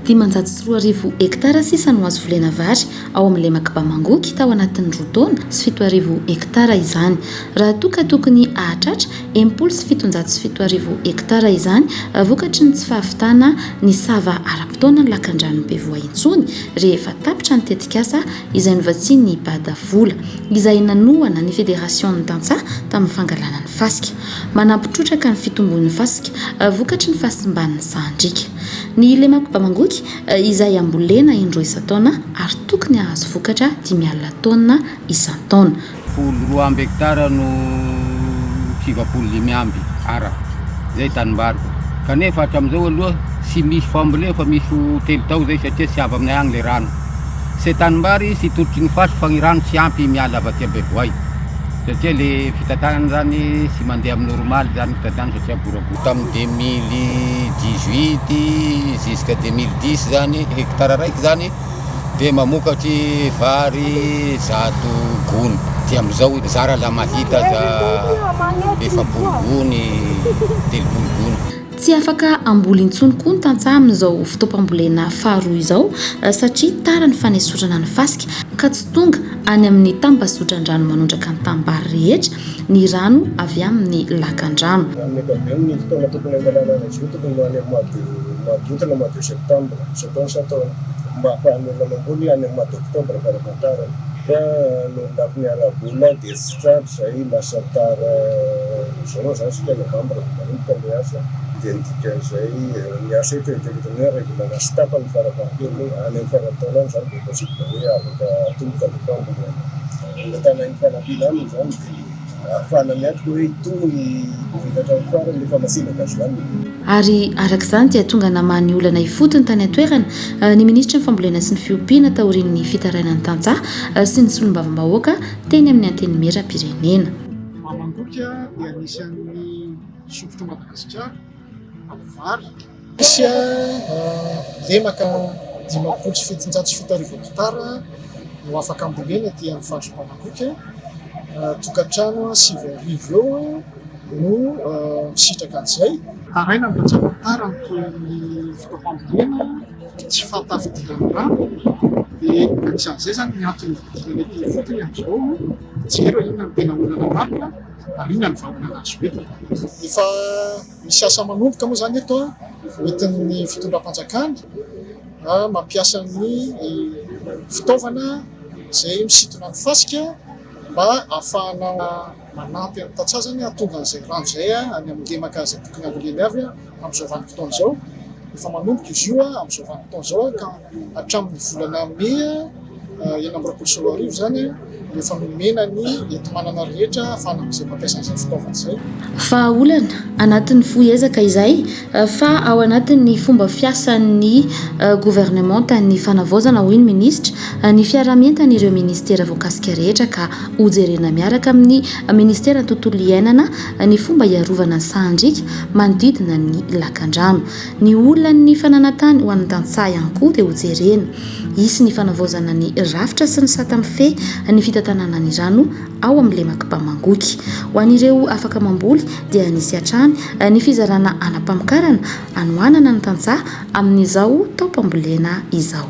Dimanjato sy roa arivo hektara sisa no azo volena vary ao amin'ny lemaka Bamangoky tao anatin'ny roa taona sy fito arivo hektara izany. Raha toa ka tokony hahatratra enimpolo sy fitonjato sy fito arivo hektara izany vokatry ny tsy fahavitana ny sava ara-potoana ny lakandranom-be voa intsony rehefa tapitra ny tetikasa izay novatsian'ny Ibada vola, izay nanohana ny Federasion'ny Tantsaha tamin'ny fangalana ny fasika. Manampy trotraka ny fitombon'ny fasika vokatry ny fahasimban'ny sahan-driaka ny lemak'i Bamangoky, izay ambolena indroa isan-taona ary tokony hahazo vokatra dimy alina taonina isan-taona. Folo roa amby hektara no sivapolo dimy amby Ar. Zay tanimbariko. Kanefa hatramizao aloha tsy misy famboleo fa misy ho telo tao zay satria tsy avy aminay agny le rano. Tsy tanimbary sy tototry ny fasy fa ny rano tsy ampy miala avy aty Ambevoay. Satria le fitantanana zany tsy mandeha am normal zany fitantanana satria goragora. Tam deux mille dix huit jusqu'à deux mille dix zany hektara raiky zany. dia mamokatry vary zato gony dia amin'izao zara la mahita aza efapolo gony telopolo gony Tsy afaka hamboly intsony koa ny tantsaha amin'izao fotoam-pambolena faharoa izao satria tara ny fanesorana ny fasika ka tsy tonga any amin'ny tambazotran-drano manondraka ny tanimbary rehetra ny rano avy amin'ny lakandrano. Amin'ny ankapobeny, ny fotoana tokony hangalana azy io tokony ho any amin'ny mois d'aout na mois de septembre, izay taona izao taona, mba hahafahan'ny olona mamboly any amin'ny mois d'octobre farafahatarany. Fa noho ny lafiny ara-bola dia tsy tratra izay, lasa tara juin izany isika, novembre vao manomboka ny asa, dia ny dikan'izay ny asa eto dia tokony hoe iray volana sy tapany farafahakeliny, any amin'ny fara-taona any izany vao possible hoe afaka atomboka novembre. Ahitana io fanampiana aminy izany dia ahafahana miatrika hoe itony ny vokatra hatramin'ny farany rehefa masinda gazoalina. Ary araka izany dia tonga namaha-ny olana ifotony tany an-toerana ny minisitry ny fambolena sy ny fiompiana taorian'ny fitarainan'ny tantsaha sy ny solombavambahoaka teny amin'ny antenimieram-pirenena. Mamangoky dia anisan'ny sokotr'i Madagasikara. vary. Misy lemaka dimampolo sy fitonjato sy fito arivo hektara no afaka ambolena ety amin'ny faritry Banakoka. Tokantrano sivy arivo eo no misitraka an'izay. Taraina ny tantsaha ho tara ny tohin'ny fotoam-pambolena tsy fanta fidirana rano dia anisan'izay izany ny antony hidirana ety ifotony amin'izao. Mijery hoe inona no tena olana marina. ary inona ny vahaolana azo entina? Efa misy asa manomboka moa izany eto entin'ny fitondram-panjakana mampiasa ny fitaovana izay misintona ny fasika mba hahafahana manampy ny tantsaha izany hahatonga an'izay rano izay any amin'ny lemaka izay tokony hamboleny avy amin'izao vanim-potoana izao. Efa manomboka izy io amin'izao vanim-potoana izao ka. Hatramin'ny volana mey enina amby roapolo sy roa arivo izany no efa nomena ny enti-manana rehetra ahafahana amin'izay mampiasa an'izay fitaovana izay. Vahaolana anatin'ny fohy ezaka izay fa ao anatin'ny fomba fiasan'ny governemanta ny fanavaozana, hoy ny minisitra, ny fiaraha-mientan'ireo minisitera voakasika rehetra ka hojerena miaraka amin'ny minisiteran'ny tontolo iainana ny fomba hiarovana ny sahan-driaka manodidina ny lakandrano. Ny olan'ny fananantany ho an'ny tantsaha ihany koa dia hojerena. Hisy ny fanavaozana ny rafitra sy ny sata mifehy ny fitantanana ny rano ao amin'ny lemak'Ipamangoky. Ho an'ireo afaka mamboly dia hanisy hatrany ny fizarana anam-pamokarana hanohanana ny tantsaha amin'izao taom-pambolena izao.